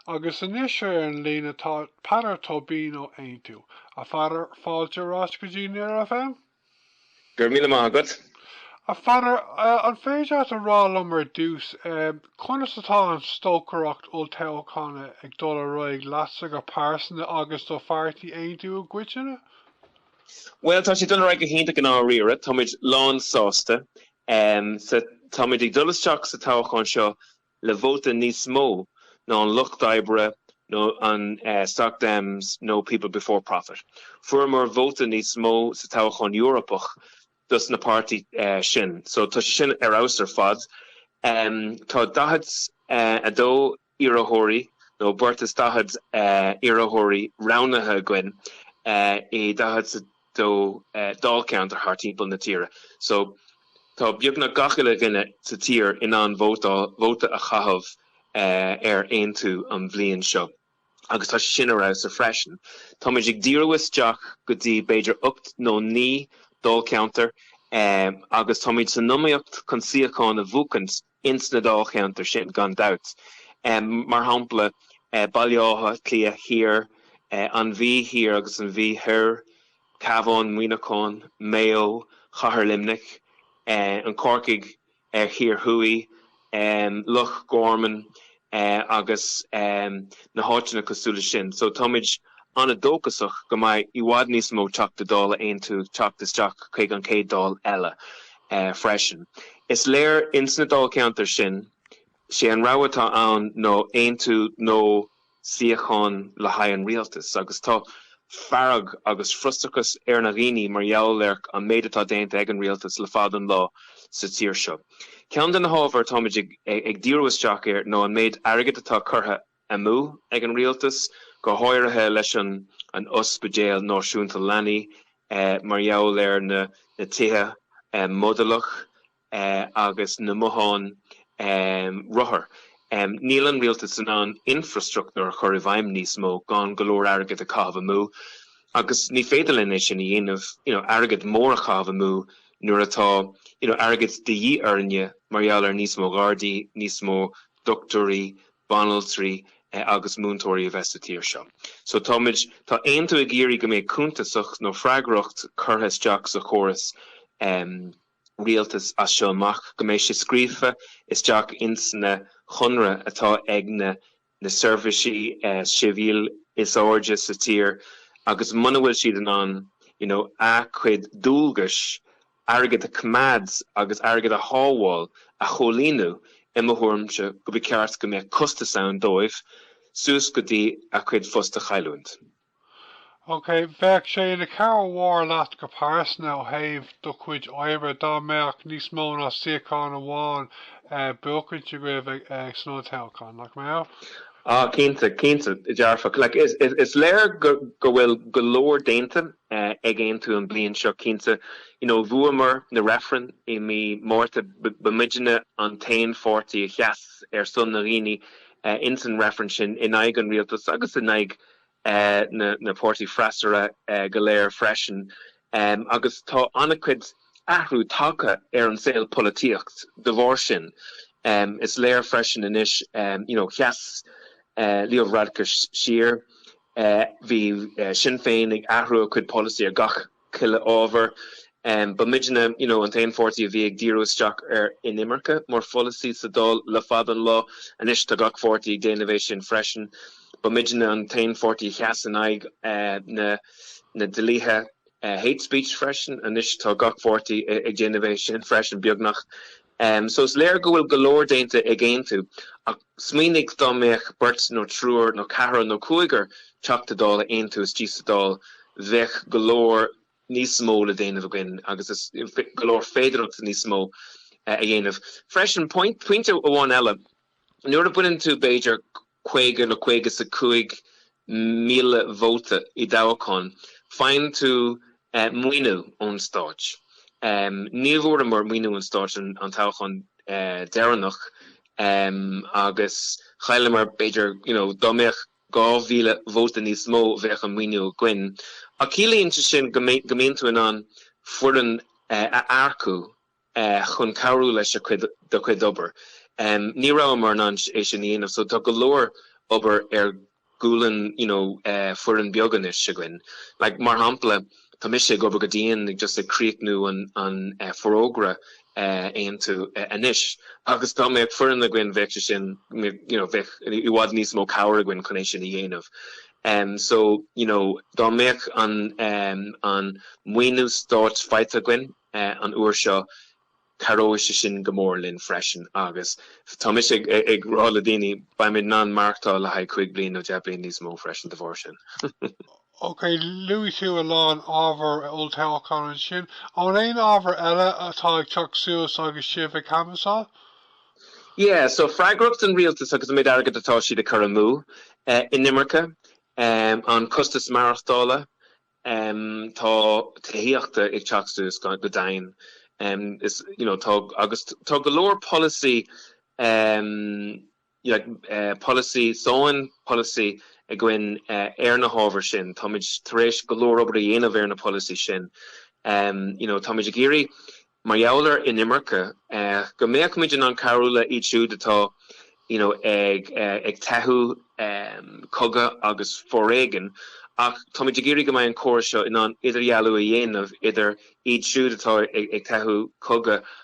Agus anois ar an líne tá Peadar Tóibín ó Aontú. A Pheadair, fáilte ar ais go dtí Near FM. Go raibh míle maith agat. A Pheadair, an féidir leat a rá liom ar dtús, conas atá an stocaireacht olltoghchána ag dul ar aghaidh leatsa go pearsanta agus do phairtí Aontú i gcoitinne? Bhuel, tá sé ag dul ar aghaidh go hiontach i ndáiríre. Táimid lán sásta. Táimid ag dul isteach sa toghchán seo le vóta níos mó ná an Lucht Oibre nó na Soc Dems nó People Before Profit. Fuaireamar vóta níos mó sa toghchán Eorpach dos na páirtí sin so tá sé sin ar fheabhas ar fad. Tá daichead a dó iarrthóirí nó beirt is daichead iarrthóirí roghnaithe againn i daichead. a dó Dáilcheantar thart timpeall na tíre so tá beagnach gach uile duine sa tír in ann vóta a chaitheamh ar Aontú an bhliain seo agus tá sé sin ar fheabhas freisin. Táimid ag díriú isteach go dtí b'fhéidir ocht nó naoi Dháilcheantar agus táimid san iomaíocht chun suíocháin a bhuachaint. ins na dáilcheantair sin, gan dabht, mar shampla, Baile Átha Cliath Thiar, An Mhí Thiar agus An Mhí Thoir, Cabhán, Muineachán, Mayo, Cathair Luimnigh, An Corcaigh Thiar Thuaidh, Loch Garman, eh, agus, em, na háiteanna cosúil le sin. So, táimid an-dóchasach go mbeidh i bhfad níos mó Teachta Dála Aontú teacht isteach chuig an chéad Dáil eile, eh, freisin. Is léir ins na Dáilcheantair sin, 'sé an rogha atá ann nó Aontú nó suíocháin le haghaidh an Rialtais, agus tá fearg agus frustrachas ar na dhaoine mar gheall ar an méid atá déanta ag an Rialtas le fada an lá sa tír seo. Ceann de na hábhair táimid ag díriú isteach air ná an méid airgid atá curtha amú ag an rialtas, go háirithe leis an Ospidéal Náisiúnta Leanaí, mar gheall ar na tithe modúlach agus na mbotháin rothar. Níl an rialtas in ann infreastruchtúr a chur i bhfeidhm níos mó gan go leor airgid a chaitheamh amú, agus ní féidir linn é sin a dhéanamh, you know, airgead mór a chaitheamh amú. Nuair atá, you know, airgead de dhíth orainne mar gheall ar níos mó gardaí, níos mó dochtúirí, banaltraí agus múinteoirí a bheith sa tír seo. So táimid, tá Aontú ag iarraidh go mbeidh cuntasacht nó freagracht curtha isteach sa chóras ehm rialtas as seo amach, go mbeidh sé scríofa isteach ins na chonradh atá ag na na seirbhísigh sibhialta is airde sa tír agus muna bhfuil siad in ann you know a' cuid dualgais, airgead a coimeád agus airgead a shábháil, a chomhlíonadh, i mo thuairimse gur ba cheart go mbeadh costas ann dóibh suas go dtí a' cuid phost a chailliúint. OK, bheadh sé ina chabhair mhór leat go pearsanta ó thaobh do chuid oibre dá mbeadh níos mó ná suíochán amháin buachainte agaibh san olltoghchán, nach mbeadh? Ah, cinnte, cinnte, dearfach. Like, is léir go bhfuil go leor déanta ag Aontú an bliain seo, cinnte. You know, bhuamar na reifrinn i mí Márta, ba muidne an t-aon pháirtí a sheas ar son na ndaoine insan reifrinn sin, in aghaidh an rialtas agus in aghaidh na páirtithe freasúra go léir freisin agus tá an-chuid athrú tagtha ar an saol polaitíochta de bharr sin. Is léir freisin anois, you know, sheas Leo Varadkar siar, bhí Sinn Féin ag athrú a chuid polasaí i ngach. chuile ábhar. Ba muidne you know an t-aon pháirtí a bhí ag díriú isteach ar inimirce mar pholasaí sa Dáil le fada an lá. Anois tá gach pháirtí ag déanamh é sin freisin. Ba muidne an t-aon pháirtí a sheas in aghaidh na na dlíthe hate speech freisin. Anois tá gach pháirtí ag déanamh é sin freisin beagnach. Em so is léir go bhfuil go leor déanta ag Aontú, ach smaoinigh dá mbeadh beirt nó triúr nó ceathrar nó cúigear Teachta Dála Aontú istigh sa Dáil bheadh go leor níos mó le déanamh againn agus is go leor féidearthachta níos mó a dhéanamh. Freisin, pointe amháin eile, nuair a bhuann tú b'fhéidir, caoga nó caoga is a cúig míle vóta i dtoghchán, faigheann tú maoiniú ón stáit. Ní bhfuaireamar maoiniú ón stáit an toghchán deireanach agus chailleamar, b'fhéidir, you know, dá mbeadh dhá mhíle vóta níos mó, bheadh an maoiniú againn. Ach ciallaíonn sé sin go mbíonn tú in ann foireann a earcú. chun cabhrú leis do chuid obair. Ní rabhamar in ann é sin a dhéanamh so tá go leor obair ar ghualainn you know foireann beag anois againn. Like mar shampla tá mise ag obair go dian ag just ag críochnú an forógra Aontú anois agus dá mbeadh foireann againn bheadh sé sin you know bheadh i bhfad níos mó cabhair againn chun é sin a dhéanamh. So you know dá mbeadh an maoiniú stáit faighte againn an uair seo, cabhróidh sé sin go mór linn freisin agus tá mise ag rá le daoine, beimid in ann maireachtáil le haghaidh cúig bliana nó deich bliana níos mó freisin de bharr sin. OK, luaigh tú a lán ábhar olltoghcháin ansin. Aon ábhar eile atá ag teacht suas agus sibh ag canbhasáil? Yeah, so freagracht an rialtais agus an méid airgid atá siad ag cur amú, inimirce, an costas maireachtála, Tá tithíocht ag teacht suas go domhain agus tá go leor polasaí, polasaí sainiúil, polasaí againn ar na hábhair sin. Táimid tar éis go leor obair a dhéanamh ar na polasaí sin. You know táimid ag iarraidh mar gheall ar inimirce, go mbeadh muid in ann cabhrú le iad siúd atá you know ag ag teitheadh cogadh agus foréigean ach táimid ag iarraidh go mbeidh an córas seo in ann idirdhealú a dhéanamh idir iad siúd atá ag teitheadh cogadh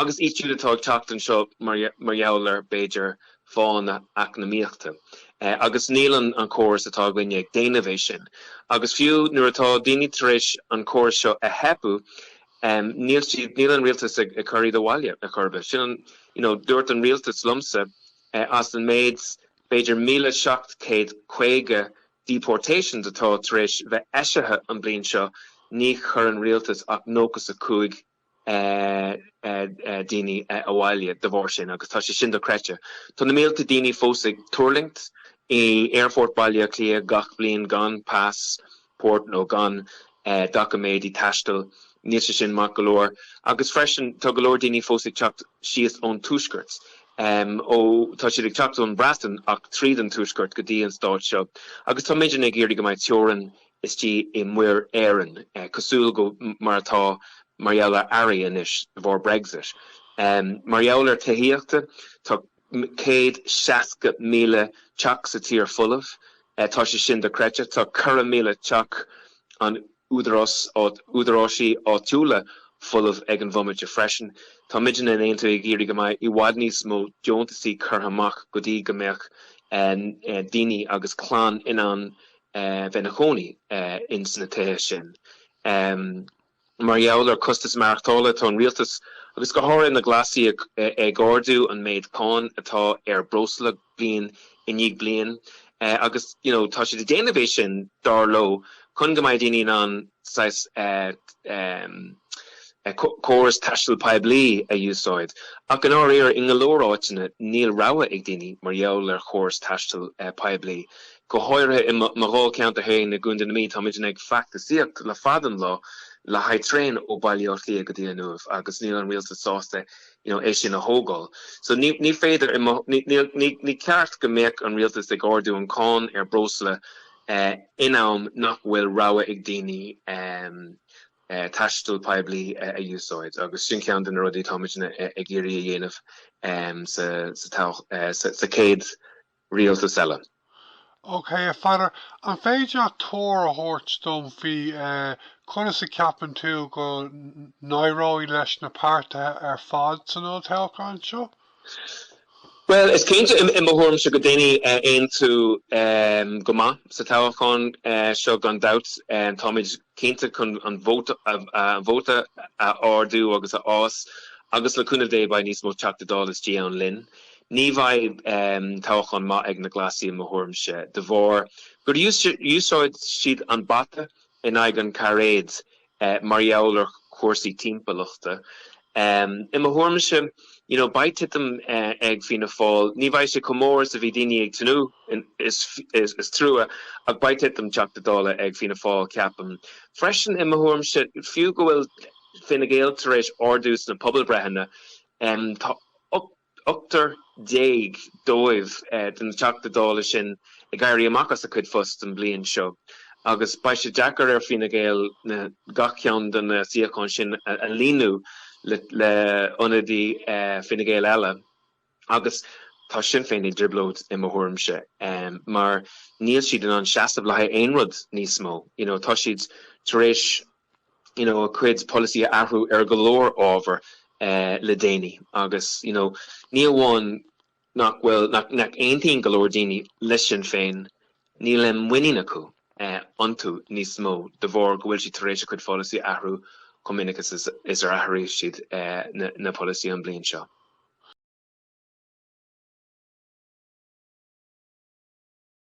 agus iad siúd atá ag teacht anseo mar gheall ar b'fhéidir fáthanna eacnamaíochta agus níl an an córas atá againne ag déanamh é sin agus fiú nuair atá daoine tar éis an córas seo a theipeadh Níl, níl an rialtas ag cur iad abhaile ar chor ar bith. Sin an, you know, dúirt an rialtas liomsa, as an méid, b'fhéidir, míle seacht céad caoga deportations atá tar éis bheith eisithe an bhliain seo, níor chuir an rialtas ach nócha 's a cúig daoine abhaile de bharr sin agus tá sé sin do-chreidte. Tá na mílte daoine fós ag tuirlingt i aerfort Bhaile Átha Cliath gach bliain gan pas port nó gan doiciméidí taistil, níl sé sin maith go leor. Agus freisin, tá go leor daoine fós ag teacht síos ón tuaisceart, ó tá siad ag teacht ón mBreatain ach tríd an tuaisceart go dtí an stát seo. Agus tá muidne ag iarraidh go mbeidh teorainn istigh i Muir Éireann, cosúil le mar atá mar gheall ar earraí anois de bharr Brexit. Mar gheall ar tithíocht, tá. 160,000 teach sa tír folamh. Tá sé sin dochreidte. Tá ceithre mhíle teach an údaráis, údaráisí áitiúla folamh ag an bhomaite freisin. Tá muidne in Aontú ag iarraidh go mbeadh i bhfad níos mó deontasaí curtha amach go dtí go mbeadh daoine agus clann in ann bheith ina chónaí ins na tithe sin. Mar gheall ar costas maireachtála, tá an rialtas, agus go háirithe na Glasaigh, ag ardú an méid cáin atá ar breosla bliain i ndiaidh bliain agus tá siad ag déanamh é sin, dar leo, chun go mbeidh daoine in ann saghas córas taistil poiblí a úsáid. Ach i ndáiríre, i ngo leor áiteanna, níl rogha ag daoine mar gheall ar chóras taistil poiblí. Go háirithe i mo dhá cheantar féin i gContae na Mí, táimidne ag feachtasaíocht le fada an lá le haghaidh traein ó Bhaile Átha Cliath go dtí an Uaimh agus níl an rialtas sásta é sin a thógáil. So ní, ní féidir, i mo, níl, ní, ní ceart go mbeadh an rialtas ag ardú an cáin ar breosla in am nach bhfuil rogha ag daoine taisteal poiblí a úsáid agus sin ceann de na rudaí táimidne ag iarraidh a dhéanamh sa, sa, sa chéad rialtas eile. OK, a Pheadair, an féidir leat tuar a thabhairt dom faoi conas a cheapann tú go n-éireoidh leis na páirtithe ar fad san olltoghchán seo? Bhuel, is cinnte, i mo thuairimse, go déanfaidh Aontú go maith sa toghchán seo, gan dabht. Táimid cinnte chun an vóta a ardú agus a fhás agus le cúnamh Dé beidh níos mó Teachta Dála istigh ann linn. Ní bheidh toghchán maith ag na Glasaigh i mo thuairimse de bharr gur úsáid siad an bata in aghaidh an cairéad mar gheall ar chúrsaí timpeallachta. I mo thuairimse, you know, beidh titim ag Fianna Fáil, ní bheidh sé chomh mór is a bhí daoine ag tnúth, is trua, ach beidh titim Teachta Dála ag Fianna Fáil, ceapaim. Freisin, i mo thuairimse, fiú go bhfuil Fine Gael tar éis ardú sna pobalbhreitheanna, tá Ochtar déag dóibh, de na Teachta Dála sin, ag éirí amach as a chuid phost an bhliain seo agus beidh sé deacair ar Fine Gael gach ceann de na suíocháin sin a líonadh le hionadaí Fine Gael eile agus tá Sinn Féin i dtrioblóid, i mo thuairimse, mar níl siad in ann seasamh le haghaidh aon rud níos mó, you know. Tá siad tar éis. you know, a gcuid polasaí a athrú ar go leor ábhar le déanaí agus, you know, ní amháin nach bhfuil, nach aontaíonn go leor daoine le Sinn Féin, níl aon muinín acu iontu níos mó de bharr go bhfuil siad tar éis a gcuid polasaí a athrú chomh minic is ar athraíodh siad na polasaí an bhliain seo.